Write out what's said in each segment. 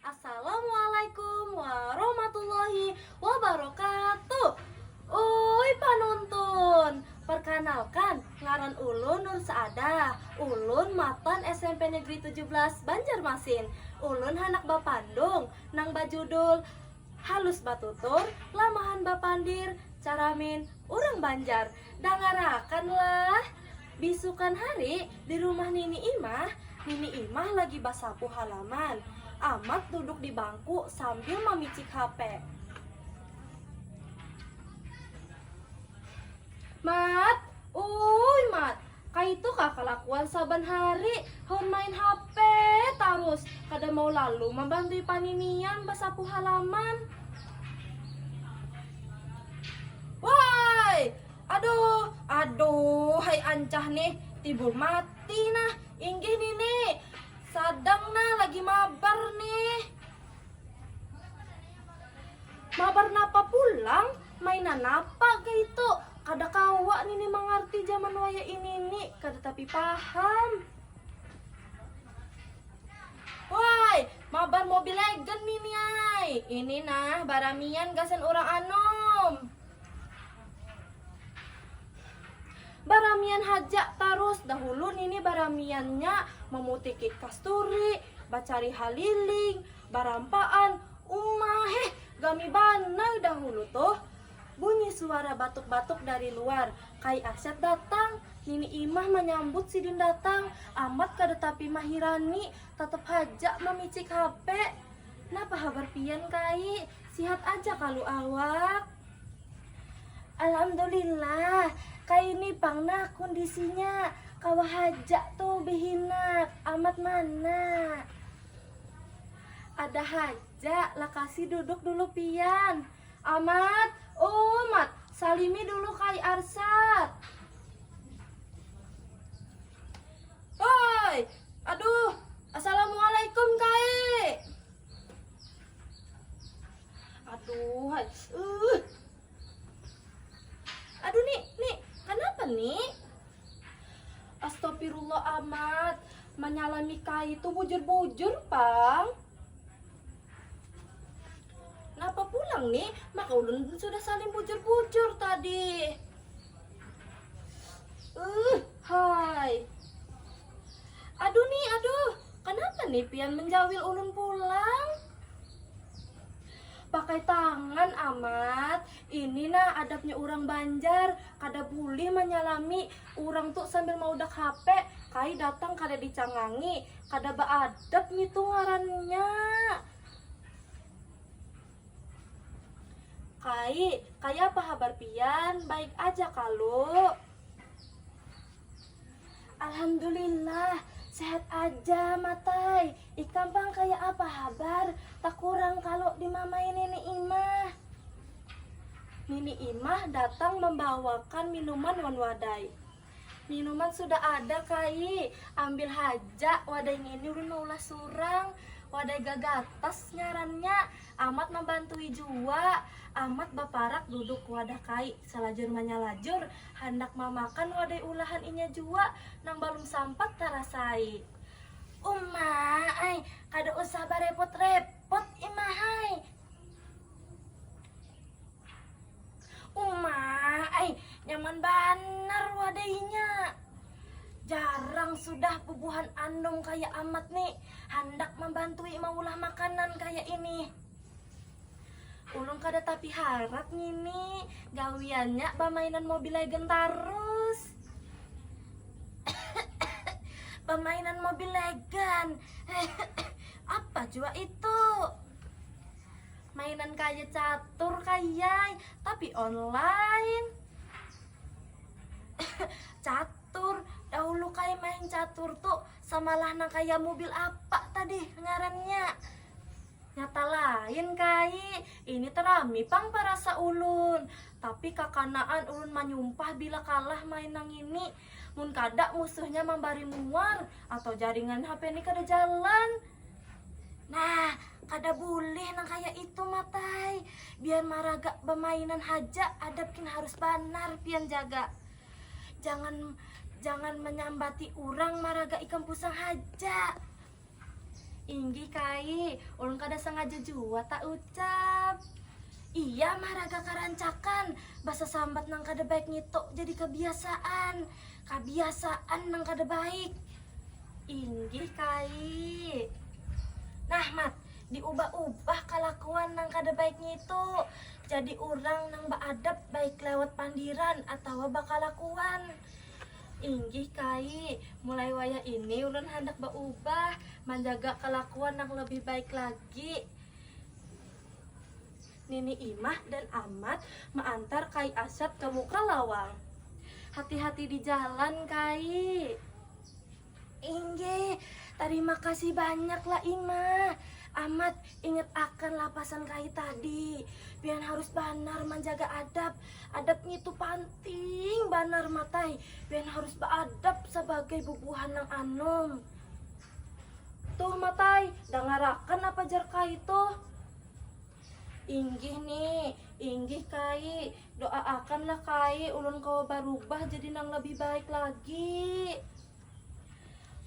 Assalamualaikum warahmatullahi wabarakatuh Uuy panuntun Perkanalkan ngaran ulun Nur Saadah Ulun matan smp negeri tujuh belas Banjarmasin Ulun handak bapandung nang bajudul Halus batutur, lamahan bapandir, caramin urang banjar Dangarakan lah. Bisukan hari, di rumah Nini Imah, Nini Imah lagi basapu halaman. Amat duduk di bangku sambil mamicik hape. Mat, uuyy Mat, kaitu kah kalakuan saban hari, haun main hape tarus, kada mau lalu mambantui paninian basapu halaman. Waayy, Aduh, aduhai ancah nih, timbul mati nah. Inggih nini, sadang nah lagi mabar nih. Mabar napa pulang? Mainan napa ga itu? Kada kawa nini mangarti jaman wayah inini, kada tapi paham. Woi, mabar Mobile Legend nini ai. Ini nah baramian gasan urang anum. Baramian hajak tarus dahulu nini baramiannya memutiki kasturi, bacari haliling, barampaan, uma heh gami banar dahulu tuh. Bunyi suara batuk batuk dari luar, kai asyad datang, nini imah manyambut sidin datang, amat kada tapi mahirani, tetap hajak mamicik hape. Napa habar pian kai, sihat aja kalu awak? Alhamdulillah, kaini pang nah kundisinya, kawa haja tu behinak, amat mana. Ada haja, lakasi duduk dulu pian. Amat, umat, salimi dulu kai Arsad. Hoi. Aduh, assalamualaikum kaik. Aduh, hai. Uh. Aduh, Nik, Nik, kenapa, Nik? Astagfirullah amat, menyalami kai itu bujur-bujur, Pang. Napa pulang, Nik? Maka ulun sudah saling bujur-bujur tadi. Uh, hai. Aduh nih, aduh, kenapa nih pian menjawil ulun pulang? Pakai tangan amat, ini nah adabnya urang banjar, kada bulih manyalami urang tu sambil maudak hape, kai datang kada dicangangi, kada baadab ngitu ngarannya. Kai, kayapa habar pian, baik aja kalu? Alhamdulillah sehat aja matai, ikam pang kaya apa habar takurang kalu dimamai nini imah. Nini imah datang mambawakan minuman wan wadai, minuman sudah ada kai ambil haja wadai ngini ulun maulah surang wadai gagatas ngarannya amat mambantui jua amat baparak duduk wadah kai. Salajur manyalajur, handak mamakan wadai ulahan inya jua nang balum sampat tarasai. Uma ai, kada usah barepot-repot imahai. Uma ai, nyaman banar wadainya. Jarang sudah bubuhan anum kaya Amat ni handak mambantui maulah makanan kaya ini. Ulun kada tapi harat ngini, gawiannya bamainan Mobile Legend tarus. bamainan Mobile Legend. Apa jua itu? Mainan kaya catur kayai, tapi online. catur, dahulu kaya main catur tuh samalah nang kaya mobil apa tadi ngarannya? Nyata lain kai, ini te rami pang parasa ulun. Tapi kakanaan ulun manyumpah bila kalah main nang ini. Mun kada musuhnya mambari muar atau jaringan HP ni kada jalan. Nah, kada bulih nang kaya itu Matai. Biar maraga bamainan haja, adab kin harus banar pian jaga. Jangan jangan manyambati urang maraga ikam pusang haja. Inggih kai, ulun kada sengaja jua ta ucap. Iya mah raga karancakan, basasambat nang kada baik ngitu jadi kabiasaan, kabiasaan nang kada baik. Inggih kai. Nah Mat, diubah ubah kalakuan nang kada baik ngitu, jadi urang nang baadab baik lewat pandiran atawa bakalakuan. Inggih Kai, mulai wayah ini ulun handak baubah, manjaga kalakuan nang lebih baik lagi. Nini Imah dan Amat maantar Kai Asyad ka muka lawang. Hati-hati di jalan Kai. Inggih, tarima kasih banyak lah Ima. Amat, ingat akan lah pasan Kayi tadi. Pian harus banar manjaga adab. Adab ngitu panting banar Mat ai. Pian harus baadab sabagai bubuhan nang anum. Tuh Mat ai, dangarakan apa jar Kayi tuh. Inggih Ni, inggih Kai, do'aakanlah Kai ulun kawa barubah jadi nang labih baik lagi.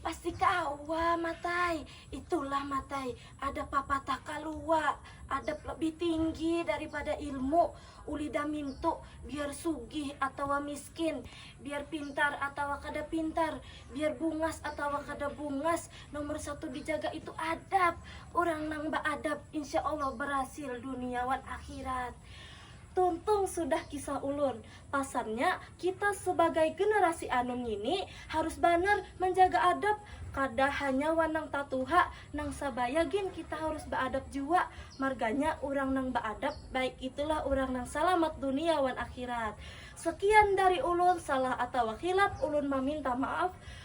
Pasti kawa Matai, itulah Matai ada papatah kalua, adab labih tinggi daripada ilmu, ulih damintu biar sugih atawa miskin, biar pintar atawa kada pintar, biar bungas atawa kada bungas, Nomor satu dijaga itu adab. Orang nang beadab insya Allah berhasil dunia wan akhirat. Tuntung sudah kisah ulun. Pasannya kita sebagai generasi anum ngini harus banar menjaga adab kada hanya wan nang tatuha, nang sabaya gin kita harus beadab jua. Marganya orang nang beadab baik itulah orang nang salamat dunia wan akhirat. Sekian dari ulun, salah atawa khilaf ulun maminta maaf.